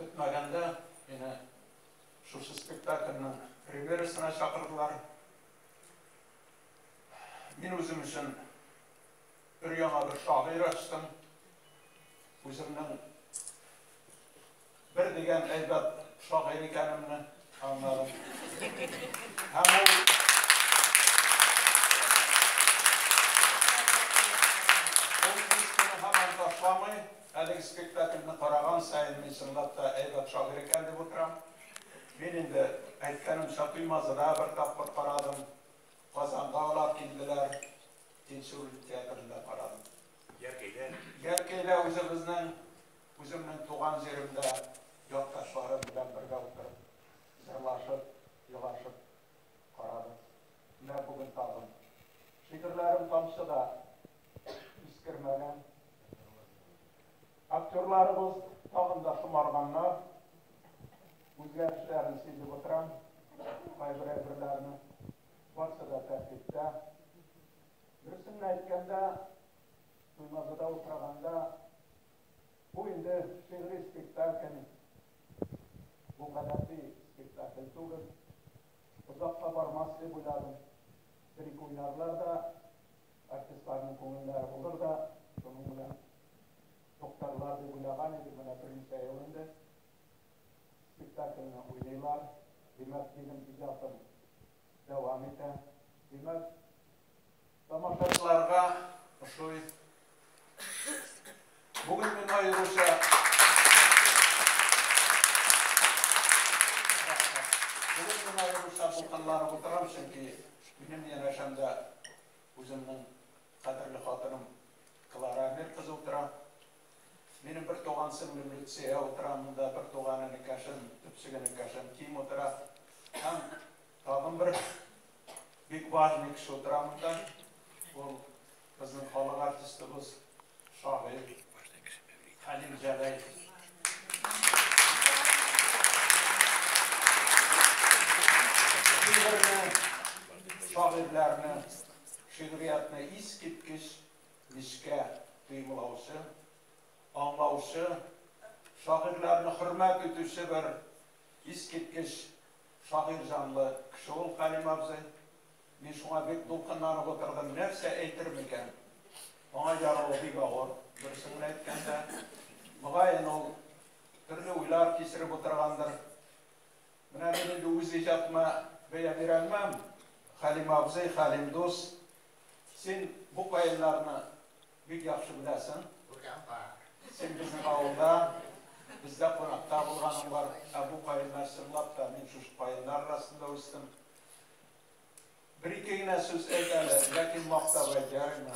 Көтмәгәндә мине шушы спектакльнең премьерасына чакырдылар. Мин үзем өчен бер яңа бер шагыйрь ачтым. Үземнең бер дигән әйбәт шагыйрь икәнемне Әлеге спектакльне караган сайын мин чынлап та әйбәт шагыйрь икән дип утырам. Мин инде әйткәнемчә Туймазыда бер тапкыр карадым. Казанга алар килделәр. Тинчурин театрында карадым. Яркәйдә. Яркәйдә үзебезнең Үземнең туган җиремдә якташларым белән бергә утырып, җырлашып, елашып карадым. Менә бүген тагын. Шигырьләрем тамчы да искермәгән. Актерларыбыз тагын да шомарганнар. Үзгәрешләрен сизеп утырам. Кайбер әйберләрне. Барысы да тәртиптә. Дөресен әйткәндә, Туймазыда утырганда Бу инде шигъри спектакль, бу гадәти спектакль түгел. Озакка бармас дип уйладым. Бер-ике уйнарлар да, артистларның күңелләре булыр да, шуның белән туктарлар дип уйлаган идек, менә берничә ел инде спектакльне уйныйлар. Димәк, минем иҗатым дәвам итә. Димәк, Тамашачыларга ошый. Бүген мин аеруча Бүген мин аеруча булганлары утырам, чөнки минем янәшәмдә үземнең кадерле хатыным Клара Амир кызы утыра. Минем бер туган сеңлем Люция утыра, монда бер туган энекәшем, төпсек энекәшем Ким утыра. Һәм Тагын бер бик важный кеше утыра монда. Ул безнең халык артистыбыз, шагыйрь Хәлим Җәләев. Шагыйрьләрне, шигъриятне искиткеч нечкә тоемлаучы, аңлаучы, шагыйрьләрне хөрмәт итүче бер искиткеч Шагыйрь җанлы кеше ул Кәрим абзый. Мин шуңа бик дулкынланып утырдым. Нәрсә әйтер микән? Аңа яруы бик авыр, дөресен генә әйткәндә. Мөгаен, ул төрле уйлар кичереп утыргандыр. Менә мин инде үз иҗатыма бәя бирә алмам, Хәлим абзый, Хәлим дус, син бу каеннарны Бик яхшы беләсең. Күргән бар. Син безнең авылда, бездә кунакта булганың бар. Ә бу каеннар чынлап та, мин шушы каеннар арасында үстем. Бер-ике генә сүз әйт әле, ләкин мактап әйт, ярыймы?